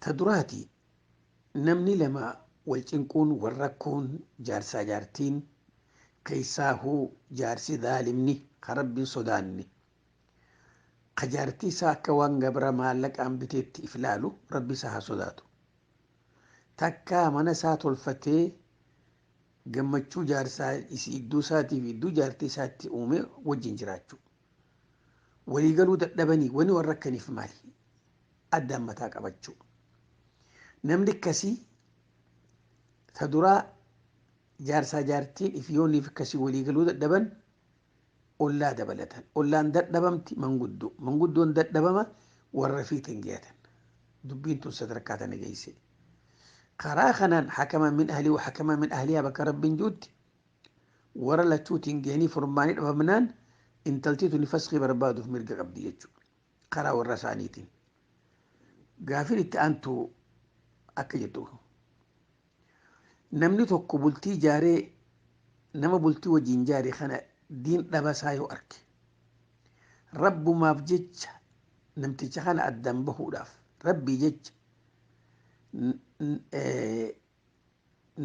Ta duraati, namni lama wal cinquun, wal rakkuun, jaarsaa jaartiin, keessaahuu jaarsi dhaalimni, ka Rabbi hin sodaanne, ka jaartii isaa akka waan gabra maallaqaan biteetti if laalu, Rabbi isaa haa sodaatu. Takkaa mana isaa tolfatee gammachuu jaarsaa isii idduu isaatii fi idduu jaartii isaatti uumee wajjin jiraachuu. Walii galuu dadhabanii wani wal rakkaniif maali? addaan mataa qabachuu. Namni akkasii ta duraa jaarsaa jaartiin if yooniif akkasii walii galuu dadhaban ollaa dabalatan. Ollaan dadhabamti manguddoo. Manguddoon dadhabama warra fiitiin geeyatan. Dubbiin tun sadarkaa tana geeyse. Karaa kanaan hakama min ahlii wa hakama min ahliyaa bakka rabbiin juutti warra lachuutiin geeyanii furmaanii dhabamnaan intaltii tuni faskii barbaaduuf mirga qabdi jechuudha. karaa warra isaaniitiin. Gaafin itti aantu akka jettu namni tokko bultii jaaree nama bultii wajjin jaare kana diin dhabasaa yoo arke rabbumaaf jecha namticha kana addaan bahuudhaaf rabbii jecha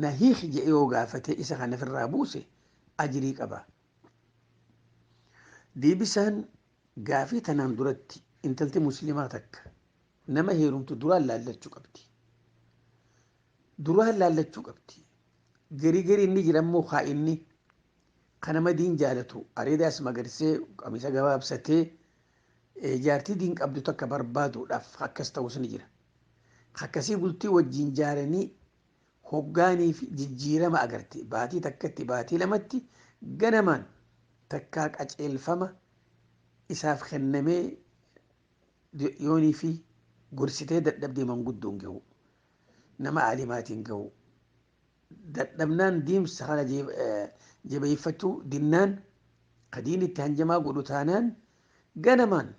na hiiki je'ee yoo gaafate isa kana firraa buuse ajrii qaba. Deebisaan gaafii tanaan duratti intalti muslimaa takka nama heerumtu duraan laallachuu qabdi. Duraan laallachuu qabdi. Garii garii inni jira immoo haa inni kan nama diin jaalatu areedaas magarsee qamisa gabaabsatee jaartii diin qabdu takka barbaaduudhaaf akkas ta'us ni jira. Akkasii bultii wajjiin jaaranii hoggaaniifi jijjiirama agarte. Baatii takkatti, baatii lamatti ganamaan takkaa qaceelfama isaaf kennamee yooniifi gorsitee dadhabdee manguddoon gahuu, nama aalimaatiin gahuu dadhabnaan deemsa kana jabeeffachuu dinnaan ka diinitti hanjamaa godhu taanaan ganamaan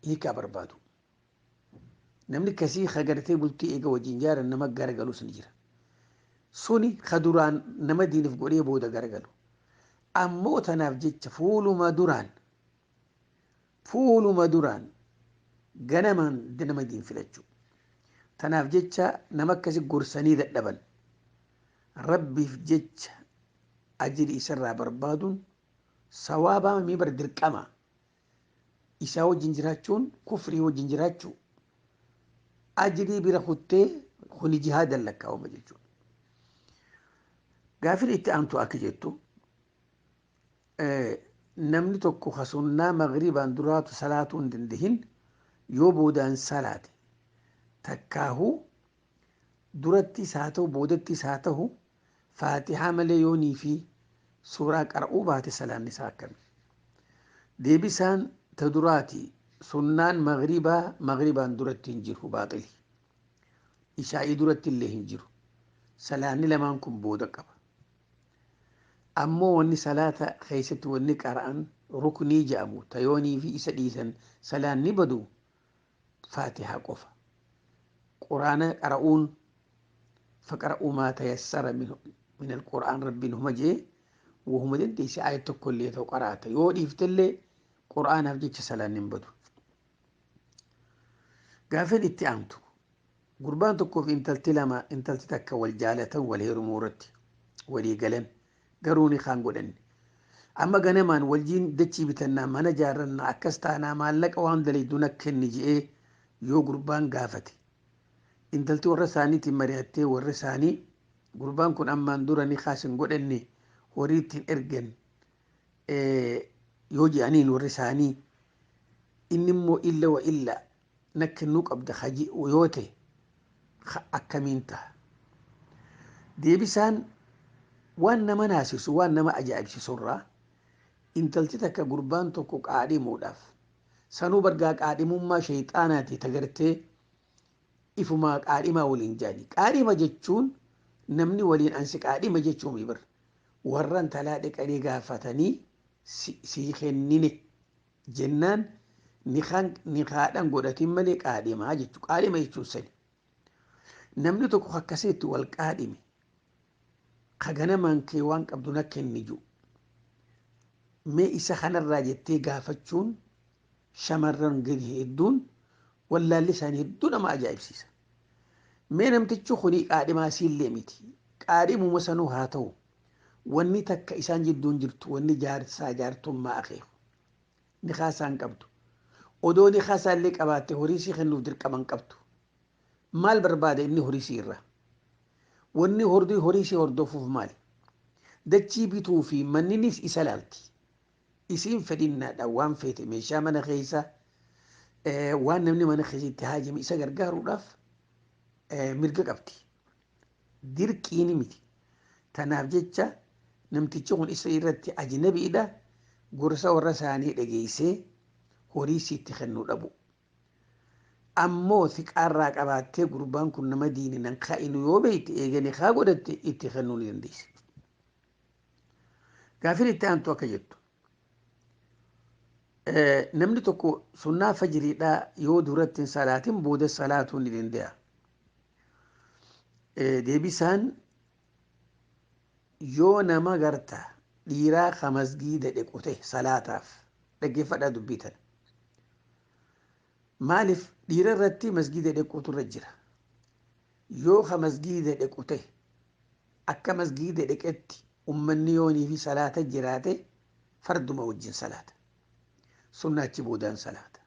hiikaa barbaadu. Namni kasii ka gartee bultii eega wajjin jaaran nama garagalus ni jira. Suni ka duraan nama diinif godhee booda garagalu. Ammoo tanaaf jecha fuuluma duraan fuuluma duraan ganamaan nama diin filachuu. Tanaaf jecha nama akkasi gorsanii dadhaban rabbiif jecha ajiri isarraa barbaaduun sawaabaa mii bar dirqama Isaa wajjin jiraachuun kufrii wajjin jiraachuu. Ajrii bira kuttee kuni jihaadan lakkaa'ama jechuudha. Gaaffiin itti aantu akka jettu namni tokko ka sunnaa magribaan duraatu salaatuu hin dandahin yoo boodaan salaate takkaahuu durattis haa ta'u boodattis haa ta'u Faatihaa malee yoo niifi suuraa qara'uu baate salaanni isaa akkami? Deebisaan ta duraati sunnaan maghribaa maghribaan duratti hin jiru baaxili. Ishaa'ii duratti illee hin jiru. Salaanni lamaan kun booda qaba. Ammoo wanni salaata keessatti wanni qara'an ruknii jedhamu ta yoo niifi isa dhiisan salaanni badu faatihaa qofa quraana qara'uun faqara'uu maa tayassara min alquraan rabbiin huma jee wahuma dandeesse aayat tokko illee ta'u qaraata yoo dhiiftellee quraanaaf jecha salaanni hin badu gaafin itti aantu gurbaan tokkoof intalti lama intalti takka wal jaalatan wal heerumuu irratti walii galan Garuu nikaa hin godhanne. Amma ganamaan waljiin dachii bitannaa, mana jaarrannaa, akkas taanaa maallaqa waan dalaydu na kenni je'ee yoo gurbaan gaafate. Intalti warra isaaniitiin mari'attee warri isaanii gurbaan kun ammaan dura nikaas hin godhanne horii itti hin ergan yoo je'aniin warri isaanii inni immoo illa wa illa na kennuu qabda ka je'u yoo ta'e ka akkamiin taha? Deebisaan waan nama naasisu waan nama ajaa'ibsisurraa intalti takka gurbaan tokko qaadhimuudhaaf sanuu bargaa qaadhimummaa sheyxaanaati ta gartee ifumaa qaadhimaa waliin jaani. Qaadhima jechuun namni waliin ansi qaadhima jechuu mibir warra intalaa dhiqanii gaafatanii sii kennine jennaan nikaan nikaadhan godhatin malee qaadhimaa jechu qaadhima jechuun sani namni tokko kakkasee itti wal qaadhime ka ganamaan kee waan qabdu na kenni jiru mee isa kanarraa jettee gaafachuun shamarran gadi hedduun wallaalli isaanii hedduu nama ajaa'ibsiisa mee namtichi kuni qaadhimaa siillee miti qaadhimuma sanuu haa ta'u Wanni takka isaan jidduu hin jirtu wanni jaarsaa jaartummaa akeeku. Nikaa isaa hin qabdu. Odoo nikaa isaa illee qabaatte horii isii kennuuf dirqama hin qabdu. Maal barbaada inni horii isii irraa? Wanni hordii horii isii hordofuuf maali? Dachii bituu fi manninis isa laalti. Isiin fedhinnaadhaan waan feete meeshaa mana keessaa waan namni mana keessatti haajame isa gargaaruudhaaf mirga qabdi. dirqiini miti. Tanaaf jecha namtichi kun isa irratti ajnabiidha gorsa warra isaanii dhageessee horii siitti kennuu dhabu. Ammoo siqaarraa qabaattee gurbaan kun nama diini nan kaa'inu yoo beekte eeganii kaa godhatte itti kennuu ni dandeessa. Gaafin itti aantu akka jettu. Namni tokko sunnaa fajiriidhaa yoo duratti hin salaatin booda salaatuu ni danda'a. Deebisaan yoo nama garta dhiiraa ka masgiida dhequ ta'e salaataaf dhaggeeffadhaa dubbii tana. Maaliif dhiira irratti masgiida dhequutu irra jira. Yoo ka masgiida dhequ ta'e akka masgiida dheqetti ummanni yoonii fi salaata jiraate farduma wajjin salaata. Sunna achi boodaan salaata.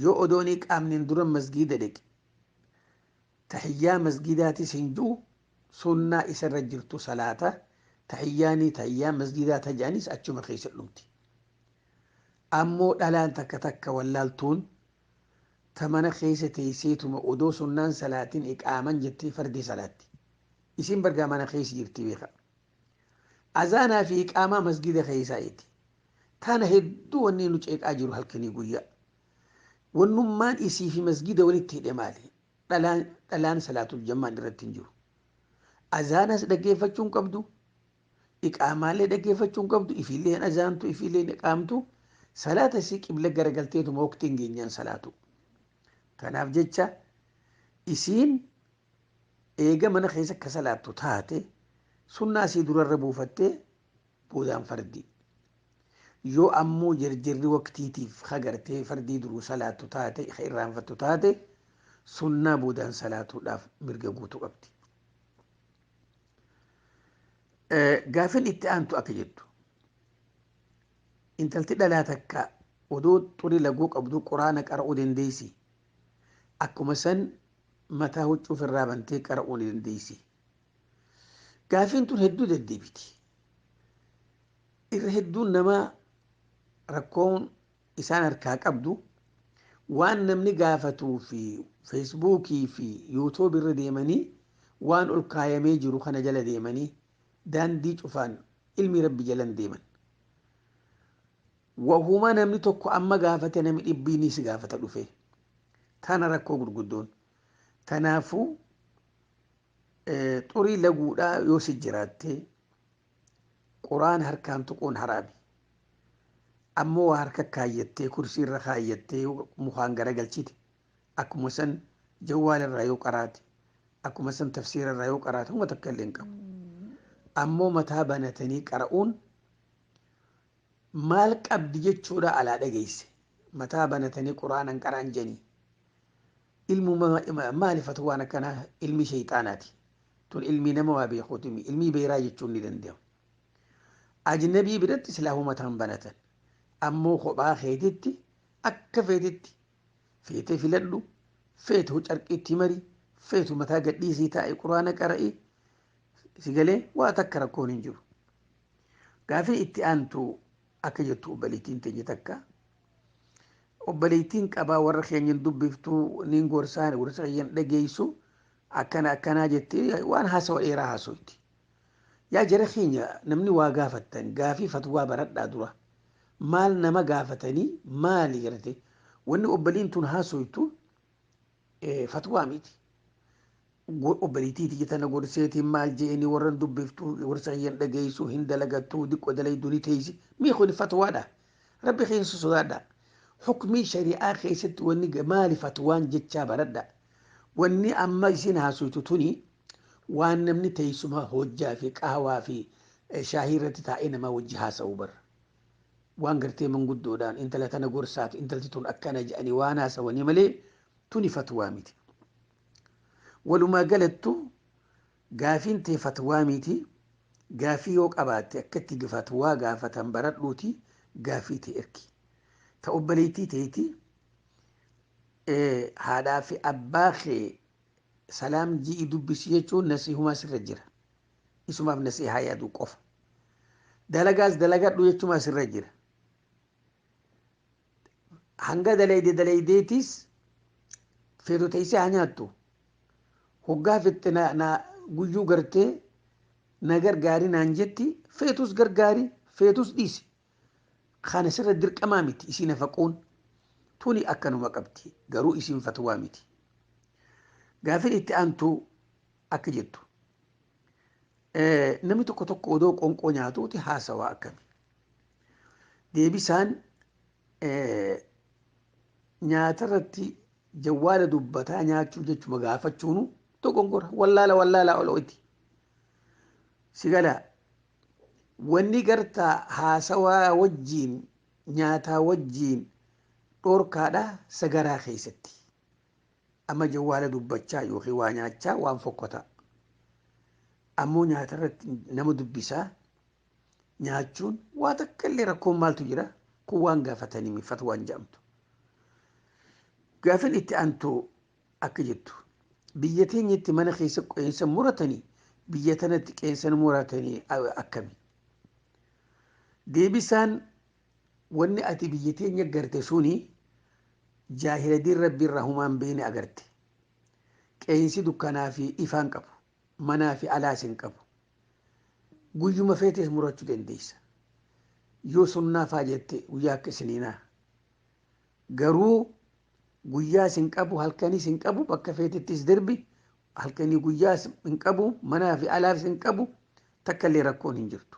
Yoo odoo hin iqaamneen dura masgiida dhaqi. Tahiyyaa masgiidaatis hin jiru, sunnaa isa irra jirtu salaata, tahiyyaanii tahiyyaa masgiidaa ta je'anis achuma keessa dhumti. Ammoo dhalaan takka takka wallaaltuun ta mana keessa teeyseetuma odoo sunnaan salaatin iqaaman jettee fardii salaatti. Isiin bargaa mana keessa jirti beekhaa. Azaanaa fi iqaamaa masgiida keessaayiti. Tana hedduu wanni nu ceeqaa jiru halkanii guyyaa. Wannummaan isii fi masgiida walitti hidhe maali? Dhalaan dhalaan salaatul jammaan irratti hin jiru. Azaanas dhaggeeffachuu hin qabdu. Iqaamaallee dhaggeeffachuu hin qabdu. Ifiillee hin azaantu, ifiillee hin iqaamtu. Salaata isii qibla garagalteetuma waqtiin geenyaan salaatu. Kanaaf jecha isiin Eega mana keessa ka salaattu taate sunnaa sii durarra buufattee boodaan fardii. Yoo ammoo jerjerri waqtiitiif ka gartee fardii duruu salaattu taate ka irraanfattu taate sunnaa boodaan salaatuudhaaf mirga guutuu qabdi. Gaafin itti aantu akka jettu intalti dhalaa takka odoo xurii laguu qabdu quraana qara'uu dandeessi. Akkuma san mataa huccuu ofirraa bantee qara'uu ni dandeessi. Gaafiin tun hedduu deddeebiti. Irra hedduun namaa rakkoon isaan harkaa qabdu waan namni gaafatuu fi feesbuukii fi yuutuubi irra deemanii waan ol kaayamee jiru kana jala deemanii daandii cufaan ilmi rabbi jalan deeman. Wahuma namni tokko amma gaafate nami dhibbii ni si gaafata dhufee. Tana rakkoo gurguddoon. Tanaafuu xurii laguudhaa yoo si jiraattee quraan harkaan tuquun haraami. Ammoo waa harka kaayyattee kursii irra kaayyattee yoo mukaan garagalchite akkuma san jawwaala irraa yoo qaraate akkuma san tafsiira irraa yoo qaraate homa takka illee hin qabu. Ammoo mataa banatanii qara'uun Maal qabdi jechuudha alaa dhageesse mataa banatanii qur'aana hin qara'an jedhanii ilmuma maali fatwaan akkanaa ilmi sheyxaanaati tun ilmii nama waa beekuutimi ilmii beeraa jechuun ni danda'amu ajnabii biratti silaahuu mataan banatan ammoo kophaa keetitti akka feetitti feetee filadhu feetu carqiitti mari feetu mataa gadhiisii taa'e quraana qara'ii sigalee waa takka rakkoon hin jiru Gaafii itti aantu akka jettu obboleettiin teenya takka obboleettiin qabaa warra keenya hin dubbiftu niin gorsaan gorsa kiyya hin dhageessu akkana akkanaa jettee waan haasawa dheeraa haasoyti. Yaa jara keenya namni waa gaafattan gaafii fatwaa baradhaa dura maal nama gaafatanii maali gartee wanni obboliin tun haasoytu fatwaa miti obboleetiiti jetana gorseetiin maal jeeni warran dubbiftu gorsa kiyyan dhageessu hin dalagattu diqqo dalaydu ni teeysi mii kun fatwaadha rabbi keessa sodaadha hukmii shari'aa keessatti wanni maali fatwaan jechaa baradha wanni amma isin haasoytu tuni waan namni teessuma hojjaa fi qaawaa fi shaahii irratti taa'ee namaa wajji haasa'u barra waan gartee manguddoodhaan intala tana gorsaatu intalti tun akkana jedhanii waan haasawanii malee tuni fatwaa miti. Walumaa galattu gaafiin tee fatwaa miti gaafii yoo qabaatte akka itti fatwaa gaafatan baradhuuti gaafii tee ergi. Ta obboleettii teeti haadhaa fi abbaa kee salaam ji'i dubbisi jechuun nasiihumaa sirra jira. Isumaaf nasiihaa yaaduu qofa. Dalagaas dalagadhu jechumaa sirra jira. Hanga dalayde dalaydeetiis feetu teessee haa nyaattu. Hoggaa fixxe na, na guyyuu gartee na gargaari naan jetti feetus gargaari feetus dhiisi. Kana sirra dirqamaa miti isiin hafaquun tuni akkanuma qabdi garuu isiin fatwaa miti. Gaafin itti aantu Akka jettu namni tokko tokko odoo qonqoo nyaatuuti haasawaa akkami? Deebisaan nyaata irratti jawwaala dubbataa nyaachuu jechuma gaafachuunu dogongora wallaala wallaala olo'iti. Sigala wanni gartaa haasawaa wajjiin nyaataa wajjiin dhorkaadha sagaraa keessatti. Amma jawwaala dubbachaa yookiin waa nyaachaa waan fokkotaa. Ammoo nyaata irratti nama dubbisaa nyaachuun waa takka illee rakkoon maaltu jira kun waan gaafatanii fatwaan jedhamtu. Gaafin itti aantu akka jettu biyya teenyatti mana keessa qeensa muratanii biyya tanatti qeensa muratanii akkami? Deebisaan Wanni ati biyya teenya garte suni jaahiladiin Rabbi irraa humaa hin beeyne agarte. Qeeyinsi dukkanaa fi ifaa hin qabu. Manaa fi alaas hin qabu. Guyyuma feetes murachuu dandeeysa. Yoo sunnaa faa jette guyyaa akka isiniinaa. Garuu guyyaas hin qabu halkanis hin qabu bakka feetettis darbi halkanii guyyaas hin qabu manaa fi alaas hin qabu takka illee rakkoon hin jirtu.